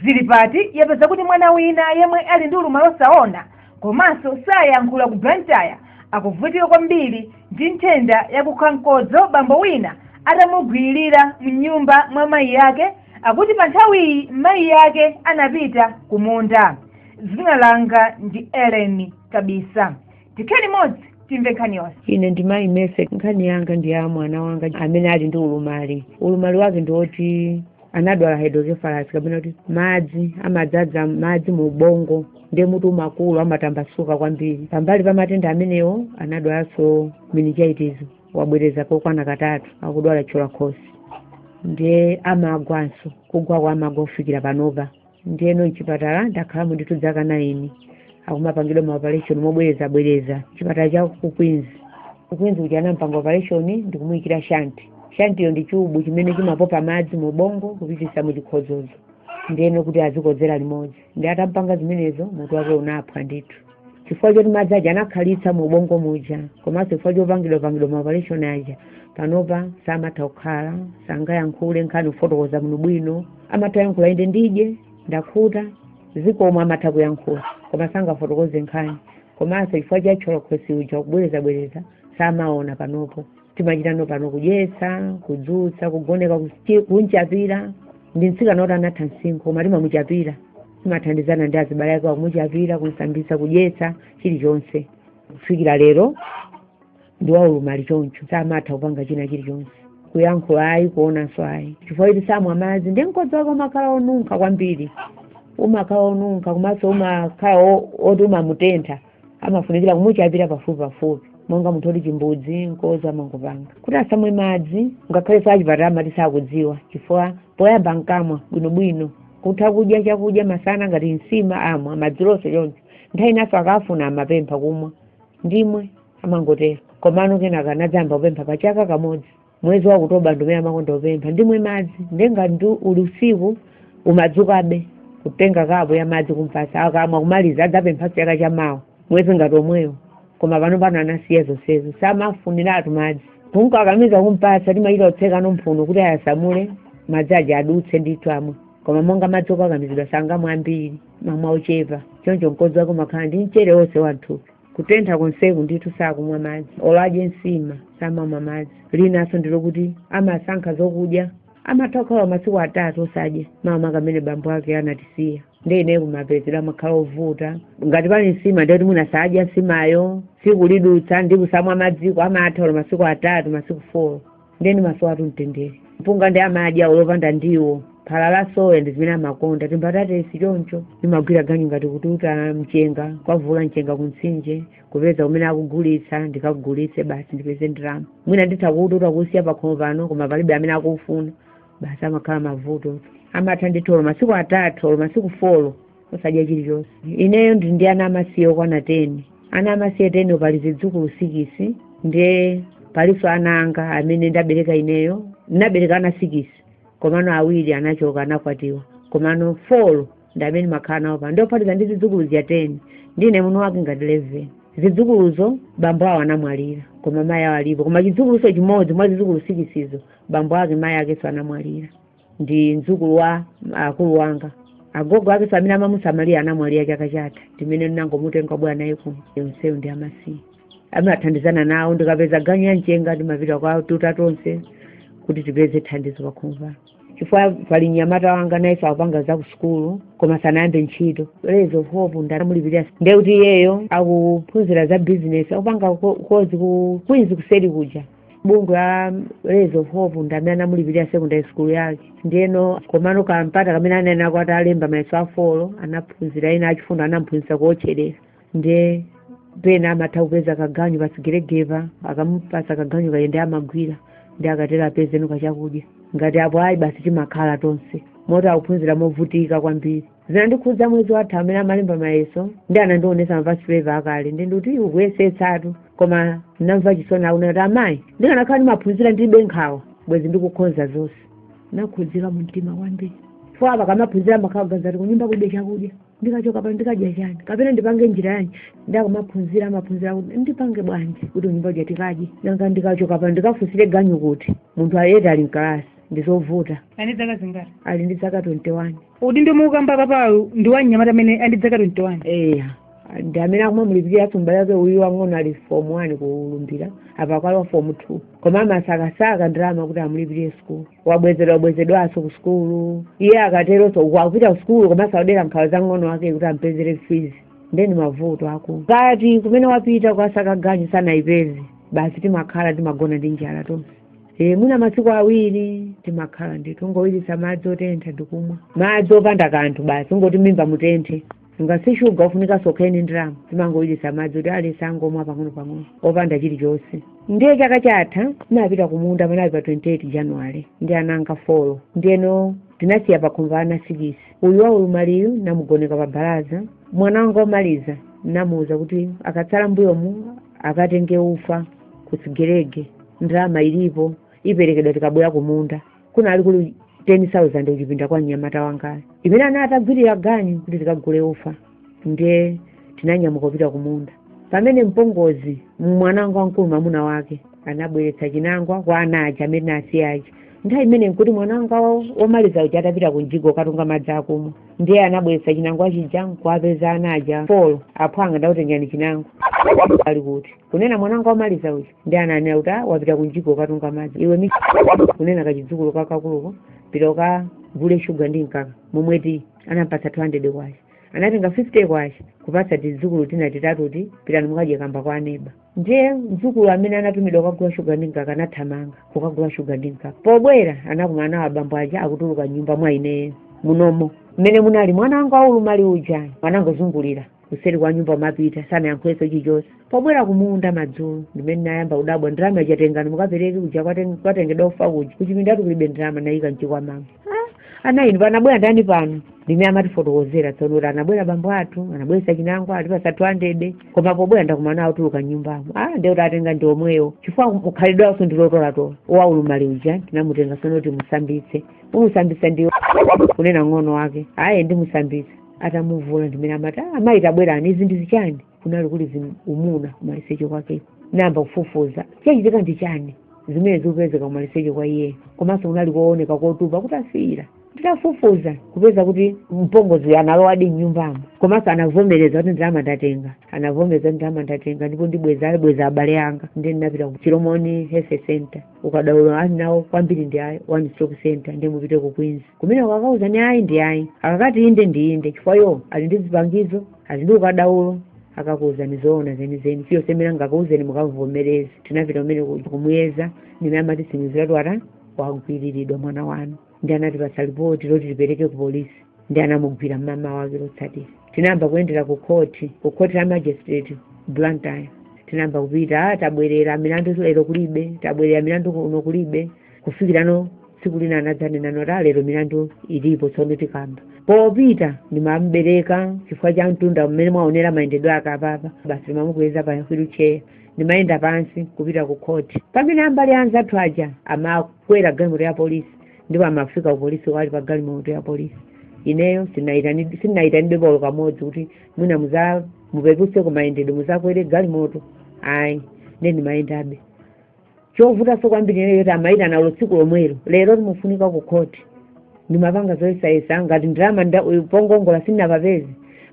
Zilipati yapeza kuti mwana wina yemwe ali ndi ulumali osaona komanso sayankhula ku Blantyre akuvutika kwambiri ndi nthenda yakukha mkodzo bambo wina atamugwililira mnyumba mwa mayi ake akuti pa nthawiyi mayi ake anapita ku munda. Dzina langa ndi Ellen Kabisa. Tikhale limodzi timve nkhani yonse. ine ndi mayi mese nkhani yanga ndi ya mwana wanga amene ali ndi ulumali ulumali wake ndi woti anadwala hydrocephalus kapena kuti madzi amadzadza madzi mu ubongo ndiye mutu umakula amatambasuka kwambiri pambali pa matenda amenewo anadwalanso meningitis wobwereza kokwana katatu akudwala chola khosi ndiye amagwanso kugwa kwa amagwa kufikira panopa ndiyeno mchipatala ndakhalamo ndithu dzaka 9 akumapangidwa ma operation mobwereza bwereza chipatala cha ku Queens ku Queens kuja anampanga operation ndikumuyikira shanti shantiyo ndi chubu chimene chimapopa madzi mu bongo kupitisa mu chikhodzozo ndiyeno kuti azikodzera limodzi ndiye atampanga zimenezo mutu wake unaphwa ndithu chifukwa choti madzi aja anakhalitsa mu ubongo muja komanso chifukwa chopangidwa pangidwa ma operation aja panopa samatha kukhala sangayankhule nkhani kufotokoza munthu bwino amatha yankhula inde ndidye ndakhuta zikomo amatha kuyankhula koma sangafotokoze nkhani komanso chifukwa cha cholakhosi uja kubwerezabwereza samaona panopo timachita panopa kudyetsa kudzutsa kugoneka kusti- kumchapira ndi mtsikana woti anatha msinkhu koma timamuchapira timathandizana ndi azibale ake akumuchapira kumsambisa kudyetsa chilichonse kufikira lero ndi waulumali choncho samatha kupanga china chilichonse kuyankhula ayi kuonanso ayi chifukwa choti samwa madzi ndi mkodzo wake umakhala onunkha kwambiri umakhala onunkha komanso umakhala o- oti umamutentha amafunikira kumuchapira pafupi pafupi monga munthu oti chimbudzi nkozo amangopanga kuti asamwe madzi ngakhale achipatala amati sakudziwa chifukwa poyamba ankamwa bwinobwino kutha kudya chakudya masana ngati nsima amwa madziwonso choncho nthawi inanso akafuna amapempha kumwa ndimwe amangotero komano kenaka anadzayamba kupempha pa chaka kamodzi mwezi wa Okutobala ndi umene amakonda kupempha ndimwe madzi nde ngati ndi uli usiku umadzukabe kutenga kapu ya madzi kumpasa akamwa kumaliza adzapempha chaka cha mawa mwezi ngati omwewo koma pano pano anasiya zonsezo samafuniratu madzi kumkakamiza kumpasa timachita kutseka mphuno kuti ayasamule madzi aja adutse ndithu amwe koma monga madzi okakamizidwa sangamwe ambiri amamwa ochepa choncho mkozi wake umakhala ndi mchere wonse wamthupi kutentha konseku ndithu sakumwa madzi olo adye nsima samamwa madzi linanso ndilo kuti amasankha zokudya amatha kukhala masiku atatu osadya makamaka mmene bambo ake anatisiya nde ineyo kumapezedwe amakhala ovuta ngati pali nsima nde kuti mwina sadya nsimayo tsiku lidutsa ndi kusamwa madziko amatha olo masiku atatu masiku folo ndeni maso awo mtendere mpunga ndi amadya olo opanda ndiwo phala la soya ndi zimene amakonda timbatatesi chonchi ndimagwira ganyu ngati kututa mchenga kuvuula mchenga kumtsinje kupeza kumene akugulitsa ndikagulitse basi ndipeze ndalama mwina nditha kuututa kusiya pakhomo pano koma palibe amene akufuna basi amakhala mavuto amatha ndithu olo masiku atatu olo masiku folo osadya chilichonse ineyo ndili ndi ana amasiye okwana teni ana amasiye teniwo pali zidzukulu sikisi ndiye palinso ana anga amene ndabereka ineyo ndinabereka ana sikisi komano awiri anachoka anakwatiwa komano folo ndi amene makhala nawo pano ndiye kuphatikiza ndi zidzukuluzi teni ndine munthu wake wa leveni zidzukuluzo bambo awo anamwalira koma mayi awo alipo koma chidzukulu chimodzi mwa zidzukulu sikisizo bambo ake mayi akenso anamwalira ndi mdzukulu wa akulu wanga agogo ake amene amamusamalira anamwalira chaka chatha ndi mmene ndinangomutenga kubwera naye kuno onsewo ndi amasiye timathandizana nawo ndikapeza ganyu ya mchenga timapita kukatuta tonse kuti tipeze thandizo pakhomopa chifukwa pali mnyamata wanga naye akupanga za kusukulu koma sanayambe ntchito rays of hope ndiyomulipirira ndekuti iyeyo akuphunzira za business akupanga ko- kozi ku queens kuseri kuja bungwe la rays of hope ndi amene anamulipirira secondary school yake ndiyeno komano kampata kamene anali atalemba mayeso a folo anaphunzira ena achifundo anamphunzitsa kuotcherera ndiye pena amatha kupeza kaganyu pa chigeregere apa akamupasa kaganyuko kake ndi amagwira ndiye akatero apezeko kachakudya ngati apo ayi basi timakhala tonse moti akuphunzira movutika kwambiri zinandikhudza mwezi watha mmene amalemba mayeso ndi anandionesa ma past paper akale ndiye ndikuti ukuyesetsatu koma ndinamva chisoni akunena kuti amayi ndikanakhala ndimaphunzira ndilibe nkhawa bwezi ndikukhonza zonse ndakhudzika mu mtima kwambiri chifukwa ndikamaphunzira ndimakhala ndikuganiza kuti kunyumba kulibe chakudya ndikachoka pano ndikadya chani kapena ndipange njira yanji nde akamaphunzira amaphunzira kuti ndipange bwanji kuti kunyumba kuja tikadye nanga ndikachoka pano ndikafunsire ganyu kuti munthu yet ali mkalasi ndizovuta ali ndi dzaka zingati ali ndi dzaka 21 udindo mukukamba apawu ndi wa mnyamata amene ali ndi dzaka 21 eya ndi amene akumamulipirira m'bale wake uyu wang'ono ali form one ku lumbira apa akulowa form two koma amasakasaka ndalama kuti amulipirire sukulu wabwezedwa bwezedwanso ku sukulu iye akateronso uku akupita ku sukulu komanso akudera nkhawa za mng'ono wake kuti ampezere fees ndeni mavuto akuti ngati kumene wapita kukasaka ganyu sanayipeze basi timakhala timagona ndi njala tonse e, mwina masiku awiri timakhala nditi tingowiritsa madzi otentha ndikumwa madzi opanda kanthu basi kungoti mmimba mutenthe nanga si shuga ufunika nso kukhale ndarama timangowiritsa madzi kuti at least tingomwa pang'ono-pang'ono opanda chilichonse ndiye chaka chatha tinapita kumunda panali pa 28 january ndi ana anga folo ndiyeno tinasiya pakhomo ana sikisi uyu wolumalayu namugoneka pa balaza mwana wanga omaliza namuwuza kuti ukatsala mbuyomu akatenge ufa ku sigelege ndalama ilipo iperekedwa tikabwera kumunda kunali kuli 10000 kuchipinda kwa mnyamata wangayo imene ana atagwirira ganyu kuti tikagule ufa ndiye tinanyamuka kupita kumunda pamene mpongozi mwanangu wamkulu mwamuna wake anabweretsa chinangwa kwa ana aja amene asiya aja nthawi imene nkuti mwananga womaliza uja atapita kunjigo katunga madzi akumwa ndiye anabweretsa chinangwa chija nkuwapeza ana aja folo aphwanga ndakutengerani chinangwa ali kuti kunena mwananga womaliza uja ndiye ananena kuti "Ah, wapita kumjigo kukatunga madzi iwe mi kunena kachidzukulu kakakuluko pita ukagule shuga ndi mkaka momwe muti anampatsa 200 kwacha anatenga 50 50 kwacha kupatsa tidzukulu tina titatuti pitani mukadye kamba kwa aneba ndiye mdzukulu amene anatumidwa kukagula shuga ndi mkaka anathamanga kukagula shuga ndi mkaka pobwera anakumana nawo abambo aja akutuluka mnyumba mwa ineyo munomo mmene munali mwana wanga wolumala uja anangozungulira kuseri kwa nyumba kumapita sanayankhulenso chichonse pobwera kumunda madzulo ndimene nayamba kudabwa ndalama ija tengani mukapereke kuja kwaten- kwatengedwa ufa kuja kuchipindatu kulibe ndalama nayika mchikwamamo ana inu panabwera ndani pano ndimmene amatifotokozera tsono kuti anabwera bambo athu anabweresa chinangwa atipasa 200 koma pobwera ndakumana autuluka mnyumbamo ah nde kuti atenga ndi omwewo chifukwa khalidwe lawo ndi lotolatola wolumala uja tinamutenga sono kuti timusambitse umusambitsa ndikunena ng'ono wake aye ndimusambitsa atamuvula ndimene amati ah mayi tabwerani izi ndi zichani kunali kuli zim- umuna kumaliseche kwake nayamba kufufuza chachitika ndi chani zimene zikupezeka kumaliseche kwa iyeyo komanso kunali kooneka kotupa kutafiira nditafufuza kupeza kuti mpongozi analowadi mnyumbamo komanso anavomereza kuti ndalama ndatenga anavomereza kuti ndalama ndatenga ndipo ndibweza abale anga ndi ndinapita ku chilomoni health center ukadaulo ali nawo kwambiri ndi a one stop center nde mupite ku queens kumene akakuuzani ayi ndi ayi akakati inde ndi inde chifukwa iwo ali ndi zipangizo alidi ndi ukadaulo akakuuzani zoona zenizeni ndiye mmene angakuuzeni mukavomereze tinapita kumene ku- kumuyeza ndimmene amatitsimikizira kuti ah wagwiriridwa mwana wanu ndi anatipatsa lipoti loti tipereke ku polisi ndi anamugwira mmawa wake lotsatira tinayamba kuyendera ku khoti ku khoti la magistrate blantyre tinayamba kupita "Ah, tabwerera milandu lero kulibe tabwerera milandu kuno kulibe kufikirano tsiku lina anadzanena kuti a lero milandu ilipo tsono tikamba popita ndimambereka chifukwa cha mtunda mmene mwaonera mayendedwe ake apapa basi ndimamukweza pa wheelchair ndimayenda pansi kupita ku khoti pamene a mbali ya anzathu aja amakwera galimoto ya polisi ndipo amafika ku polisi ali pa galimoto ya polisi ineyo sinayitanidwe sinayitanidwe polo kamodzi kuti mwina muzapepuse kumayendedwe muzakwere galimoto ayi nde ndimayendabe chovutanso kwambiri ineyo kuti amayitana tsiku lomwelo lero timufunika ku khoti ndimapanga zoyesayesa ngati ndalama nda- pongongola sindinapapeze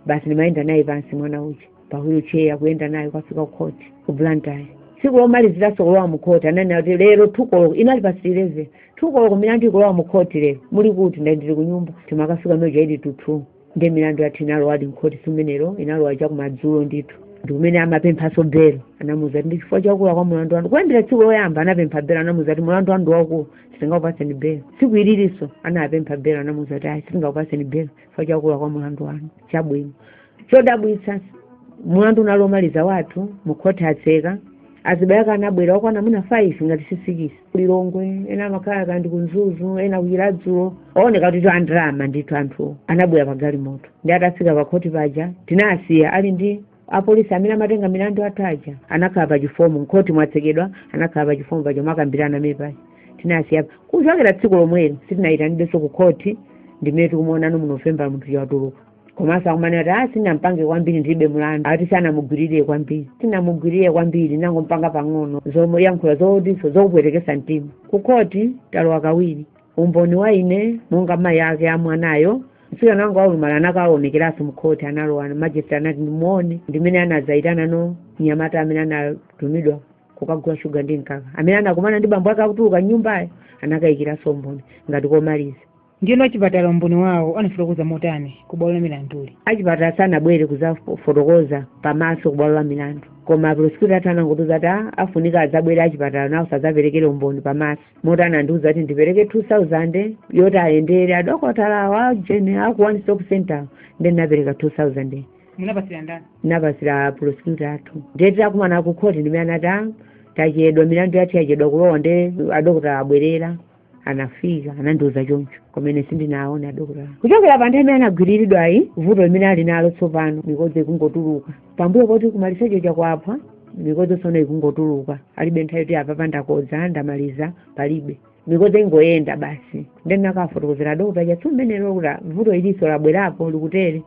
basi ndimayenda naye pansi mwana uja pa wheelchair kuyenda naye kukafika ku khoti ku blantyre tsiku lomaliziranso kulowa mu khoti ananena kuti lero thukoloko inali pa 11 thukoloko milandu ikulowa mu khoti lero muli kuti ndadali kunyumba timakafika meja ili tuthu ndiye milandu yathu inalowadi mkhoti tsiku limenelo inalowa chakumadzulo ndithu ndi kumene amapemphanso belo anamuuza kuti ndi chifukwa chakula kwa mulandu wanu kuyambira tsiku loyamba anapempha belo anamuuza kuti mulandu wanu ndi waukulu sitingakupatseni belo tsiku ilinso anapempha belo anamuuza kuti ayi sitingakupatseni belo chifukwa chakula kwa mulandu wanu chabwino chodabwitsa mulandu unali omaliza wathu mukhoti atseka azibale ake anabwera okwana mwina 5 ngati sisikisi kulilongwe ena amakhala kapena ndi ku mzuzu ena kuchiladzulo ooneka kuti ndi andalama ndithu anthu anabwera pagalimoto ndi atafika pakhoti paja tinawasiya ali ndi apolisi amene amatenga milandu athu aja anakhala pa chifomu mkhoti mwatsekedwa anakhala pa chifomu paja mwakambirana mmene paja tinasiya kuchokera tsiku lomweli sitinayitanidwenso ku khoti ndimene tikumuonanso mu november munthu watuluka komanso akumanena ati ah sinampange kwambiri ndilibe mulandu ati sinamugwiririre kwambiri sinamugwiririre kwambiri nangompanga pang'ono zoyankhula zotinso zokupwetekesa mtima kukhoti talowa kawiri umboni wa ine monga mayi ake a mwanayo mtsikana wanga waulumala anakaonekeranso mkhoti analowa majesti anati ndimuone ndimene anadzayitananso mnyamata amene anatumidwa kukagula shuga ndi mkaka amene anakumana ndi bambo ake akutuluka nyumbayo anakayikiranso umboni ngati womaliza Ndiyeno achipatala umboni wawo anafotokoza motani ku bwalo la milanduli? Achipatala sanabwere kudzafotokoza pamaso ku bwalo la milandu. Koma apulosikyuta athu anangotiuza kuti a afunika adzabwere achipatala nawonso adzaperekere umboni pamaso. Moti anandiuza kuti ndipereke 2,000 yoti ayendere adokotala awa a ujeni a ku one stop centerwo. Ndiye ndinapereka 2,000 yo. Munapatsira ndani? Ndinapatsira apulosikyuta athu. Ndiye titakumana ku khoti ndimene anati a tachedwa milandu yathu yachedwa kulowa ndiye adokotala abwerera. anafika anandiuza choncho kumene sindinawaone adokotala kuchokera pa nthawi imene anagwiriridwa ayi vuto limene ali nalo tsopano mikodzo ikungotuluka pambuyo poti kumaliseche chakwapola mikodzo sono ikungotuluka alibe nthawi yoti apapa ndakodza ndamaliza palibe mikodzo ingoyenda basi nde ndinakawafotokozera adokotala athu mmene lilili vuto ilinso labwerapo likutere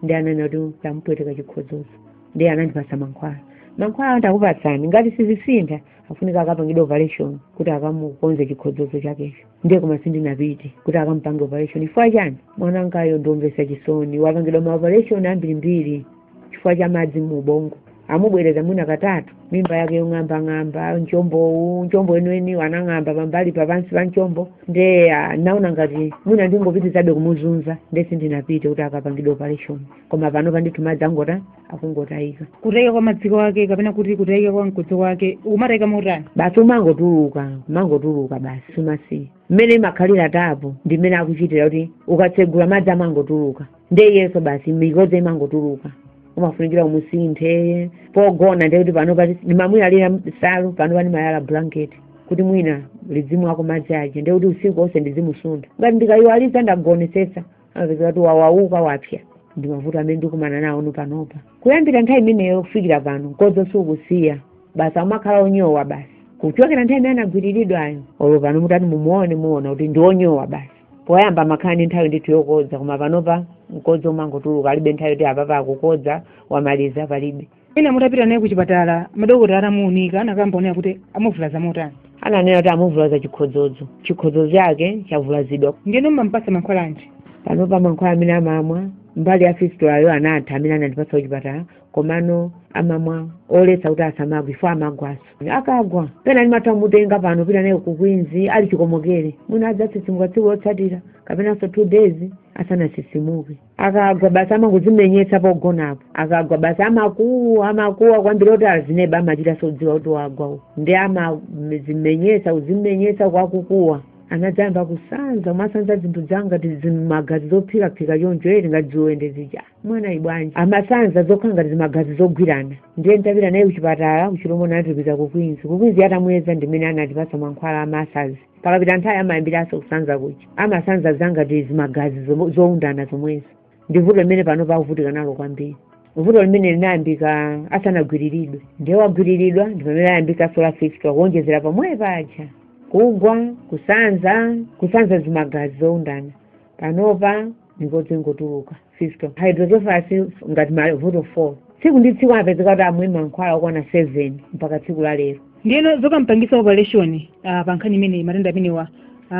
ndi ananena kuti anamupweteka chikhodzodzo nde anandipasa mankhwala mankhwala ati tikupatsani ngati sizisintha afunika akapangidwe operation kuti akamukonze chikhodzodzo chakecho ndiye koma sindinapite kuti akamupange operation chifukwa chani mwana wangayo ndiomvesa chisoni wapangidwa ma operation ambirimbiri chifukwa cha madzi mu ubongo amubwereza mwina katatu mimba yake yong'ambang'amba mchombowu mchombo weniweni anang'amba pambali papansi pa mchombo nde ah, naona ngati mwina ndingopitizabe kumuzunza nde sindinapite kuti akapangidwe operation koma panopa ndithu madzi angota akungotayika kutayika kwa madziko ake kapena kuti kutayika kwa mkodzo wake umatayika motani basi umangotuluka umangotuluka basi sumasiya mmene imakhalira tap ndi mmene akuchitira kuti ukatsegula madzi amangotuluka nde iyeso basi mikodzi imangotuluka umafunikira umusinthe pogona nde kuti pano pati ndimamuyalira salu panopa ndimayala blanket kuti mwina lizimwako madzi aja nde kuti usiku onse ndizimusuntha ngati ndikayiwalisa ndagonesesa amapezeka kuti wawauka wapsa ndi mavuto amene ndikumana nawo kuno panopa kuyambira nthawi imeneyo kufikira pano mkodzo sukusiya basi amakhala onyowa basi kuchokera nthawi imene anagwiriridwayo olo pano mutati mumuone muona kuti ndi onyowa basi poyamba amakhala ndi nthawi ndithu yokodza koma panopa mkodzo umangotuluka alibe nthawi yoti apapa akukodza wamaliza palibe mwina mutapita naye kuchipatala madokotala atamuunika anakamba onena kuti amuvulaza motani ananena kuti amuvulaza chikhodzodzo chikhodzodzo chake chavulazidwa ndiyeno mmampasa mankhwala anji panopa mankhwala amene amamwa mbali ya fistulayo anatha amene anandipasa kuchipatala komano amamwa oletsa kuti asamagwe chifukwa amagwaso akagwa pena ndimatha kumutenga pano pita naye ku Queens ali chikomokere mwina adzatsitsimuka tsiku lotsatira kapenanso two days asanatsitsimuke akagwa basi amangozimenyetsa pogonapo akagwa basi amakuwa amakuwa kwambiri oti azineba amachita zodziwa kuti wagwa uku ndiye amazimenyetsa kuzimenyetsa kwakukuwa anadzayamba kusanza amasanza zinthu zangati zimagazi zophikaphika choncho eti ngati ziwende zija mwana ibwanji amasanza zokhala ngati zimagazi zogwirana ndiye ntapita naye kuchipatala ku Chilomoni anatitumiza ku Queens ku Queens atamuyeza ndimene anatipasa mankhwala amasanzi pakapita nthawi amayambiranso kusanza kuja amasanza zangati zimagazi zomo- zoundana zomwezo ndi vuto limene panopa akuvutika nalo kwambiri vuto limene linayambika asanagwiriridwe ndiye wagwiriridwa ndi pamene layambikanso la fistula kuonjezera pamwepaja kugwa kusanza kusanza zimagazi zoundana panopa mikodzi ingotuluka fistula hydrocephalus ngati mavuto 4 tsiku ndi tsiku apezeka kuti amwe mankhwala okwana 7 mpaka tsiku la lero ndiyeno zokampangisa operation uh, pa nkhani imeneyi matenda amenewa uh,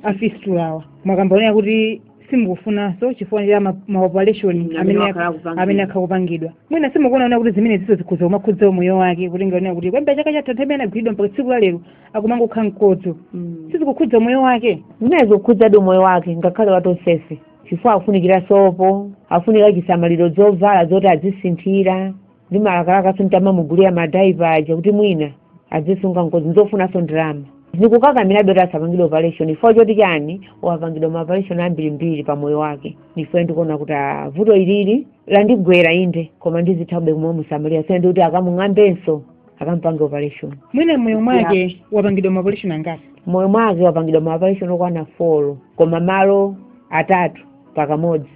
afistulawa mwakamba onena kuti simukufunanso chifukwa cha ma- maoperation amene wakhala akupangidwa mwina simukuona onena kuti zimeneziso zikhoza kumakhudza umoyo wake kutenga onena kuti kuyambira chaka chatha nthawi imene anagwiridwa mpaka tsiku la lero akumangokha mkodzo Mm. sizikukhudza umoyo wake inde zikukhudzadi umoyo wake ngakhale wa tonsefe chifukwa akufunikira sopo akufunika chisamaliro zovala zoti azisinthira ndimalakalakaso nditamamugulira madiaper aja kuti mwina azisunga mkodzo nzofunanso ndalama ndikukakamirabe kuti asapangidwe operation chifukwa choti chani wapangidwa maoperation ambirimbiri pa moyo wake chifukwa ndikuona kuti ah, vuto ilili landigwera inde koma ndizithabe kumamusamalira kusiyana ndikuti akamung'ambenso akampange operation mwina mmoyo mwake wapangidwa maoperation angati mmoyo mwake wapangidwa maoperation okwana folo koma malo atatu pakamodzi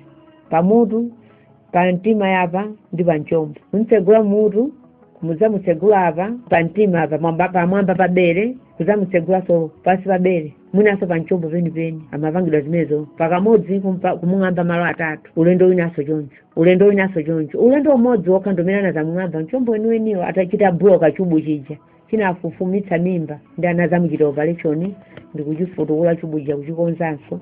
mmutu pa mtima apa ndi pa mchombo kumutsegula mmutu kudzamutsegula apa pa mtima apa mwamba- pamwamba pa bere kudzamutsegulaso pansi pa bere mwinanso pa mchombo penipeni amapangidwa zimenezo pakamodzi kumpa- kumung'amba malo atatu ulendo winanso choncho ulendo winanso choncho ulendo umodzi wokha ndomene anazamung'amba mchombo weniweniwo chitabuloka chubu chija chinafufumitsa mimba ndiye anazamuchita operation ndikuchifukula chubu chija kuchikonzanso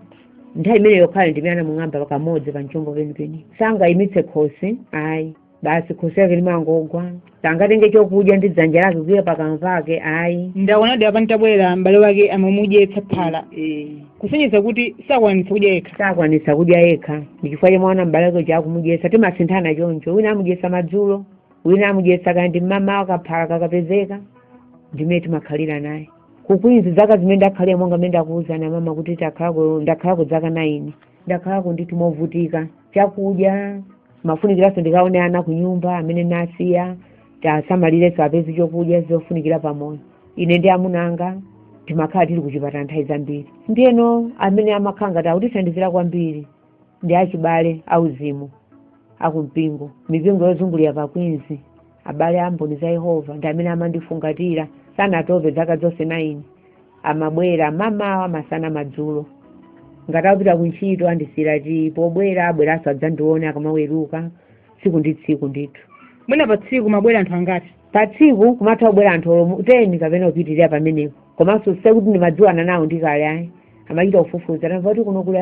nthawi imene yokhayo ndi imene anamung'amba pakamodzi pa mchombo penipeni sangayimitse khosi ayi basi khosi lake limangogwa sangatenge chokudya ndi dzanja lake kuika pakamwa pake ayi ndaonadi apa ntabwera m'bale wake amamudyetsa phala Eh, kusonyeza kuti sakwanitsa kudya yekha sakwanitsa kudya yekha ndi chifukwa chake mwaona m'bale wake uja akumudyetsa timasinthana choncho wina amudyetsa madzulo wina amudyetsa kaya ndi mmamawa kaphala kakapezeka ndimene timakhalira naye kukwinzi zaka zimene ndakhalira monga mmene ndakuuzirani mama kuti takhalako ndakhalako zaka naini ndakhalako ndithu ndimavutika chakudya ndimafunikiranso ndikaone ana ku nyumba amene ndawasiya ndiwasamalirenso apeze chakudya zofunikira pamoyo ine ndi amuna anga timakhala tili kuchipatala nthawi zambiri ndiyeno amene amakhala ngati akutithandizira kwambiri ndi achibale auzimu akumpingo mipingo yozungulira pa kwinzi abale a mboni za yehova ndi amene amandifungatira sanatope zaka zonse naini amabwera mamawa masana madzulo ngati akupita kuntchito andisiyira tiyi pobwera abweranso adzandione akamaweruka tsiku ndi tsiku ndithu mwina pa tsiku amabwera anthu angati pa tsiku kumatha kubwera anthu olomu teni kapena kupitirira pamenepo komanso sikuti ndimadziwana nawo ndi kale ayi amachita kufufuza tamva kuti kuno kuli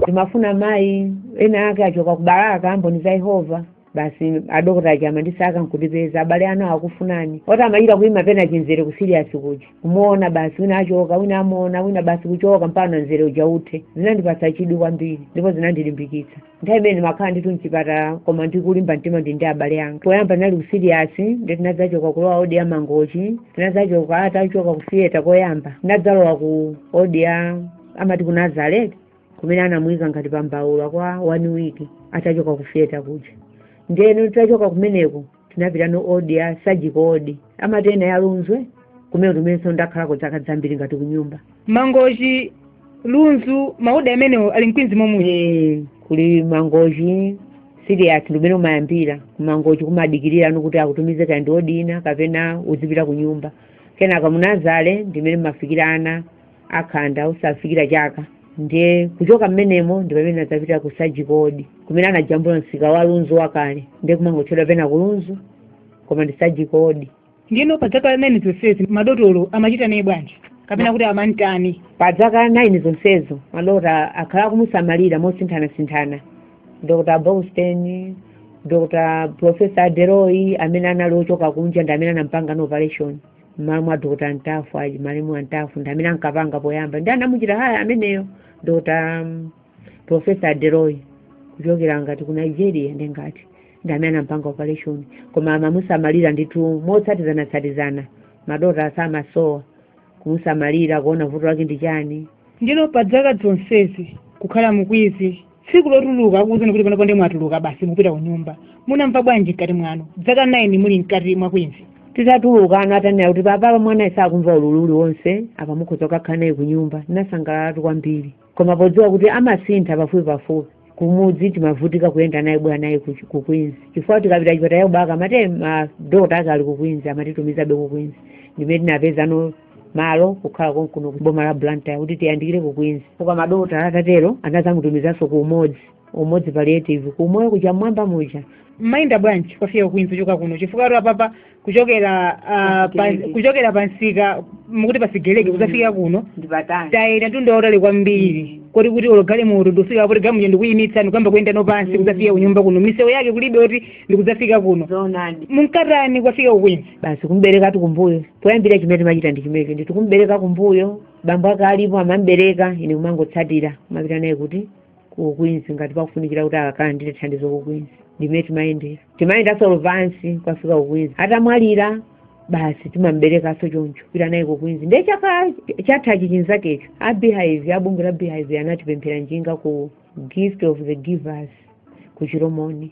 ndimafuna mayi ena ake achoka kubalaka mboni za yehova basi adokota aja amandisaka nkutipeza abale anu akufunani oti amachita kuima pena chimzere kusiriyasi kuja kumuona basi wina achoka wina amuona wina basi kuchoka mpaka mzere uja uthe zinandipatsa chidwi kwambiri ndipo zinandilimbikitsa nthawi imene ndimakhala ndithu mchipatala koma ndikulimba mtima ndi ndi abale anga poyamba tinali kusiriyasi ndiye tinadzachoka kulowa odi ya mangochi tinadzachoka atachoka kufiyeta koyamba tinadzalowa ku odi ya amati ku nazareti kumene anamuyika ngati pambaula kwa one week atachoka ku theater kuja ndeno titachoka kumeneko tinapitano odi ya surgical odi amati ena ya lunzu kumene kumenenso ndakhalako zaka zambiri ngati kunyumba mangochi lunzu maodi amenewo ali mkwinzi momwe Eh, kuli mangochi serious ndimene umayambira kumangochi kumadikirirano kuti akutumize kaya ndi odi ina kapena uzipita kunyumba kenaka munazareti ndimene mumafikira ana akhanda asanafikire chaka ndiye kuchoka mmenemo ndi pamene anadzapita ku sajikodi kumene anajambula msika wa lunzu wakale ndiye kumangotchedwa pena ku lunzu koma ndi sajikodi ndiyeno pa zaka nine zonsezi madotolo amachita naye bwanji kapena kuti amantani pa zaka nine zonsezo madokotala akhala akumusamalira mosinthanasinthana dr borgstein dr professor deroy amene anali ochoka kunja ndi amene anampanganso operation mmalo mwa dr ntafu a g malemu a ntafu ndi amene ankapanga poyamba ndi anamuchita haya ameneyo dr um, profesa deroy kuchokera ngati ku nigeria ndi ngati ndi amene anampanga operation koma amamusamalira ndithu motsatizanatsatizana madokotala samasowa kumusamalira kuona vuto lake ndi chani ndiyeno pa zaka zonsezi kukhala mu queens tsiku lotuluka akuuzani kuti panopo ndi mwatuluka basi mukupita ku nyumba munamva bwanji mkati mwanu zaka 9 muli mkati mwa kwinzi titatulukano atanena kuti apapa mwanayu sakumva ululu uliwonse apa mukhoza kukakhala naye ku nyumba tinasangalalatu kwambiri koma podziwa kuti amasintha pafupi pafupi kumudzi timavutika kuyenda naye kubwera naye ku- ku kwinzi chifukwa tikapita chipatala chakubaka amati madokotala ake ali ku kwinzi amatitumizabe ku kwinzi ndimene tinapezano malo kukhala konkuno ku boma la blantyre kuti tiyandikire ku queens koma madokotala atatero anadzamutumizanso ku umodzi umodzi palliative ku umoyo kuja mmwamba muja mumayenda bwanji kukafika ku queens kuchoka kuno chifukwa tu apapa kuchokera ah, pa- Pasigeleke. kuchokera pa msika mukuti pasigeleke kuzafika kuno ndi patali tayenda mtunda wautali kwambiri koti kuti olo galimoto ndikufika apo tiganyu muja ndikuyimitsa ndikuyamba kuyenda wapansi kuzafika kunyumba kuno miseu yake kulibe kuti ndikudzafika kuno zoonadi munkatani kukafika ku queens basi kumberekatu kumbuyo poyambira chimene timachita ndi chimenecho ndithu kumbereka kumbuyo bambo ake alipo amambereka ine kumangotsatira kumapita naye kuti kukwinzi ngati pakufunikira kuti akalandire thandizo kukwinzi ndimene timayendera timayendanso ulendo wapansi kukafika kukwinzi atadwalika basi timamberekanso choncho kupita naye kukwinzi ndiye chaka chathachi chinzakecho a beehive a bungwe la beehive anatipemphera njinga ku gift of the givers ku chilomoni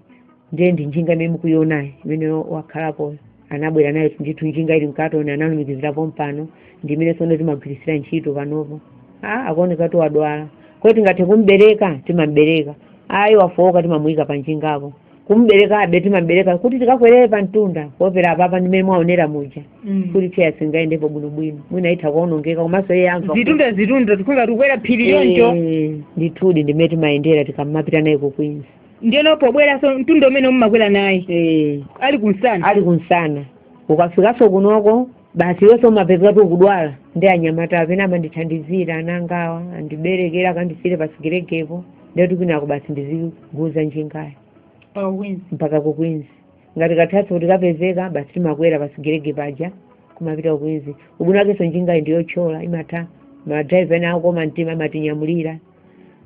ndiye ndi njinga imene mukuionayi imene wakhalapo anabwera nayo ndithu njinga ili mkatoni analumikizira pompano ndi imene tsono timagwiritsira ntchito panopo ah akuoneka kuti wadwala kodi tingathe kumbereka timambereka ayi wafowoka timamuyika pa njingapo kumberekabe timambereka kuti tikakwerere pa mtunda kuopa apapa ndimene mwaonera muja Mm. kuti chair singayendepo bwinobwino mwina itha kuonongeka komanso iye amva zitunda zitunda kukhala ngati tikukwera phiri yoncho Eh, ndithudi ndimene timayendera tikamapita naye ku queens ndiyeno pobweranso mtunda umene mumakwera naye Eh, ali kumsana ali kumsana ukafikanso kunoko basi iwenso umapezeka kuti ukudwala ndi anyamatawa pena amandithandizira ana angawa andiberekera akandisiyire pasigelekepo ndiyoti kwinako basi ndiziguza njingayo mpaka ku queens ngati kathathu kuti kapezeka basi timakwera pa sigerege paja kumapita ku Queens ubwino wakenso njingayi ndiyothyola imatha madriver ena akoma mtima amatinyamulira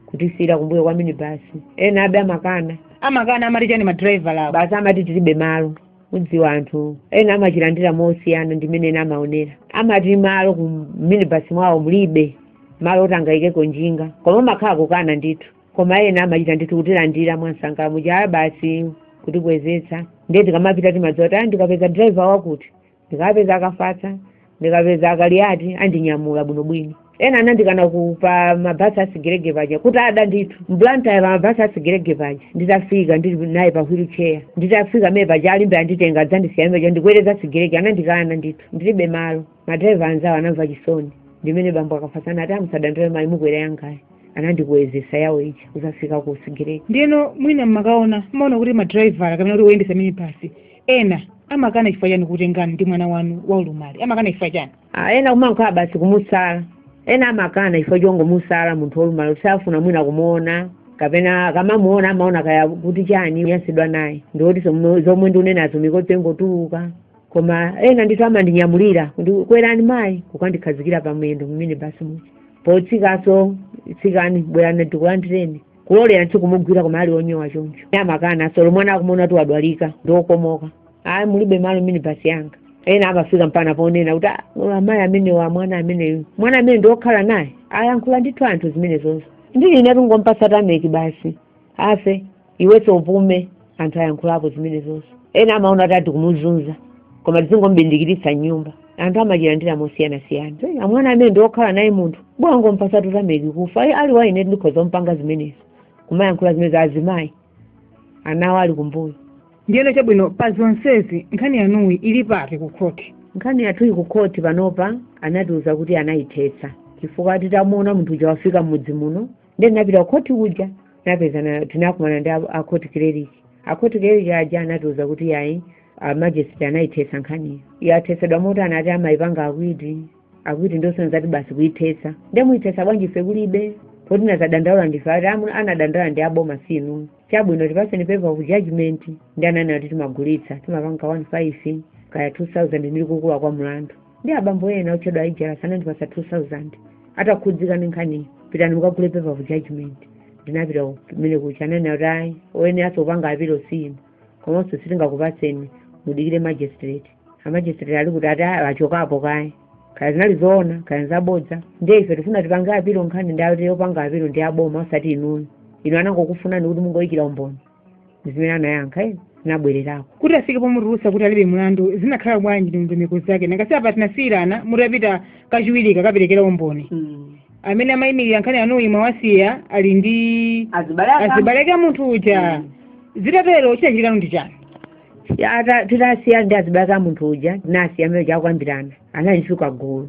kutisiyira kumbuyo kwa minibasi ena abe amakana amakana amati chani madriver awo basi amati tilibe malo udziwa anthu ena amachilandira mosiyana ndi mmene ena amaonera amati malo ku minibasi mwawo mulibe malo oti angayikeko njinga koma kumakhala kukana ndithu koma ena amachita ndithu kutilandira mwansangala muja basi kutikwezetsa ndiye tikamapita timadziwa kuti "Ah, ndikapeza driver wakuti ndikapeza a Kafatsa ndikapeza a Kaliati andinyamula bwinobwino ena anandikanako pa mabhasi asigerege paja kuti ada ndithu m'Blantyre pa mabhasi asigerege paja nditafika ndili naye pa wheelchair nditafika amene paja a Limbe anditenga adzandisiya muja ndikwere za sigerege anandikana ndithu ndilibe malo madraiva anzawo anamva chisoni ndimene bambo a Kafatsa anati musadandaule mayi mukwera yangayi anandikwezesa yawo ija kuzafika ku Sigerege ndiyeno mwina mmakaona mmaona kuti madraivala kapena kuti oyendesa minibasi ena amakana chifukwa chani kutengani ndi mwana wanu waulumali amakana chifukwa chani Ah, ena kumakhala basi kumusala ena amakana chifukwa chongomusala munthu wolumala kuti safuna mwina kumuona kapena akamamuona amaona kaya kuti chani anyansidwa naye ndikuti zomwe ndikunenazo mikodzo ingotuluka koma ena ndithu amandinyamulira kuti kwerani mayi kukandikhazikira pamwendo mminibasi muja potsikaso tsikani bwerani tikulandireni kulolera ndithu kumugwira koma ali onyowa choncho amakana solo mwana akumona kuti wadwalika ndiokomoka ayi mulibe malo mminibasi yanga ena amafika mpana ponena kuti "Ah, ola amayi amenewa mwana ameneyu mwana amene ndiokhala naye ayankhula ndithu anthu zimenezo ndili ine kungompasa tameki basi afe iwenso upume anthu ayankhulapo zimenezonso ena amaona kuti ati kumuzunza koma tizingomubindikiritsa mnyumba anthu amachilandira mosiyanasiyana Eh, amwana amene ndi okhala naye munthu bwango mpasa tutameki kufa Eh, ali wa ine ndikhoza kumpanga zimenezo kumayankhula zimenezo azimayi anawo ali kumbuyo ndiyeno chabwino pa zonsezi nkhani yanuyi ili pati ku khoti nkhani yathuyi ku khoti panopa anatiuza kuti anayithetsa chifukwa titamuona munthu uja wafika m'mudzi muno ndiye tinapita kukhoti kuja tinapezana tinakumana ndi a- a court clerk a court clerk aja anatiuza kuti ayi a magistrate anayithetsa nkhaniyo yathetsedwa moti anati amayipanga acquit acquit ndosonyeza kuti basi kuyithetsa ndiye muyithetsa bwanji ife kulibe poti anazadandaula ndife ati amu- anadandaula ndi aboma si inu chabwino tipaseni paper of judgment ndiye ananena kuti timagulitsa timapanga 15 kaya 2000 ndili kukula kwa mlandu ndi abambo ena otchedwa aijalas anandipasa 2000 atakhudzika ndi nkhaniyo pitani mukagule paper of judgment ndinapita kumene kuja ananena kuti ayi oyeneranso kupanga apilo si inu komanso sitingakupatseni mudikire magistrate amagistrate ali kuti ati "Ah, achokapo kaye kaya zinali zoona kaya zabodza ndiye ife tifuna tipange apilo nkhani ndiye ati opanga apilo ndi aboma osati inuyo inu anangokufunani kuti mungoyikira umboni zimene anayankha ine ndinabwererako kuti afike pomutulutsa kuti alibe mlandu zinakhala bwanji ndi ndondomeko zake nanga si apa tinasiyirana mutapita kachiwiri kukaperekera umboni amene amayimirira nkhani yanu mwawasiya ali ndi azibale aka azibaleke a munthu uja zitatero chinachitikano ndi chani Ya, ata- titasiya ndi azibale aka munthu uja tinasiya amene uja akukambirana anali ndi chigulu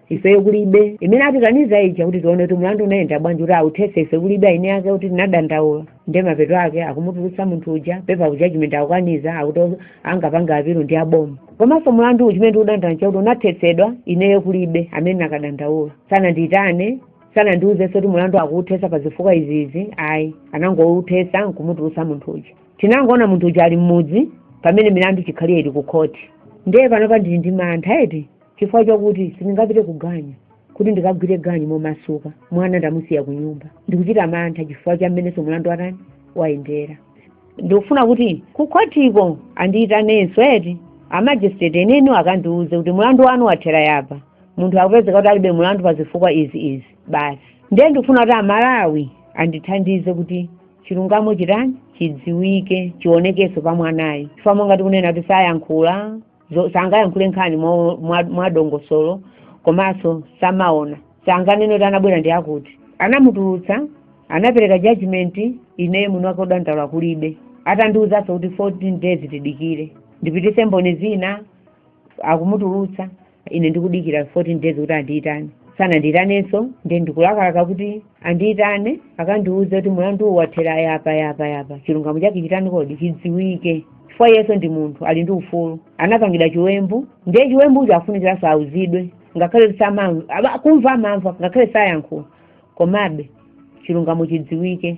ifeyo kulibe imene atikaniza kuti tione kuti mlandu unayenda bwanji kuti authese ife kulibe eni ake kuti tinadandaula ndi mapeto ake akumutulutsa munthu uja pepa ya judgment akukaniza akuti angapanga apilu ndi aboma komanso mlandu uja chimene tikudandaula nchakuti unathetsedwa ineyo kulibe amene nakadandaula sanandiyitane sanandiuzenso kuti mlandu akuuthesa pa zifukwa izizi ayi anangouthesa nkumutulutsa munthu uja tinangoona munthu uja ali mmudzi pamene milandu chikhaliye ili ku khoti ndiye panopa ndili ndi mantha eti chifukwa chakuti sindingapite ku ganyu kuti ndikagwire ganyu momasuka mwana ndamusiya ku nyumba ndikuchita mantha chifukwa cha mmenenso mlandu watani wayendera ndikufuna kuti kukhotiko andiyitanenso eti amajisitireti eniwo akandiuze kuti mlandu wanu wathera yapa munthu akupezeka kuti alibe mlandu pa zifukwa izi izi basi ndiye ndikufuna kuti amalawi andithandize kuti chilungamo chitani chidziwike chionekenso pa mwanayi chifukwa monga tikunena kuti sayankhula zo- sangayankhule nkhani mo- mwa- mwadongosolo komanso samaona sanganene kuti anabwera ndi akuti anamutulutsa anapereka judgment ine mwini wake wodandaula kulibe atandiwuzanso kuti 14 days tidikire ndipititse mboni zina akumutulutsa ine ndikudikira 14 days kuti andiyitane sanandiyitanenso ndiye ndikulakalaka kuti andiitane akandiuze kuti mulanduwu wathera yapa yapa yapa chilungamo chake chitani kodi chidziwike chifukwa iyenso ndi munthu ali ndi ufulu anapangidwa chiwembu ndiye chiwembucho afunikiranso auzidwe ngakhale kuti samamva aba- kumva amamva ngakhale sayankhula komabe chilungamo chidziwike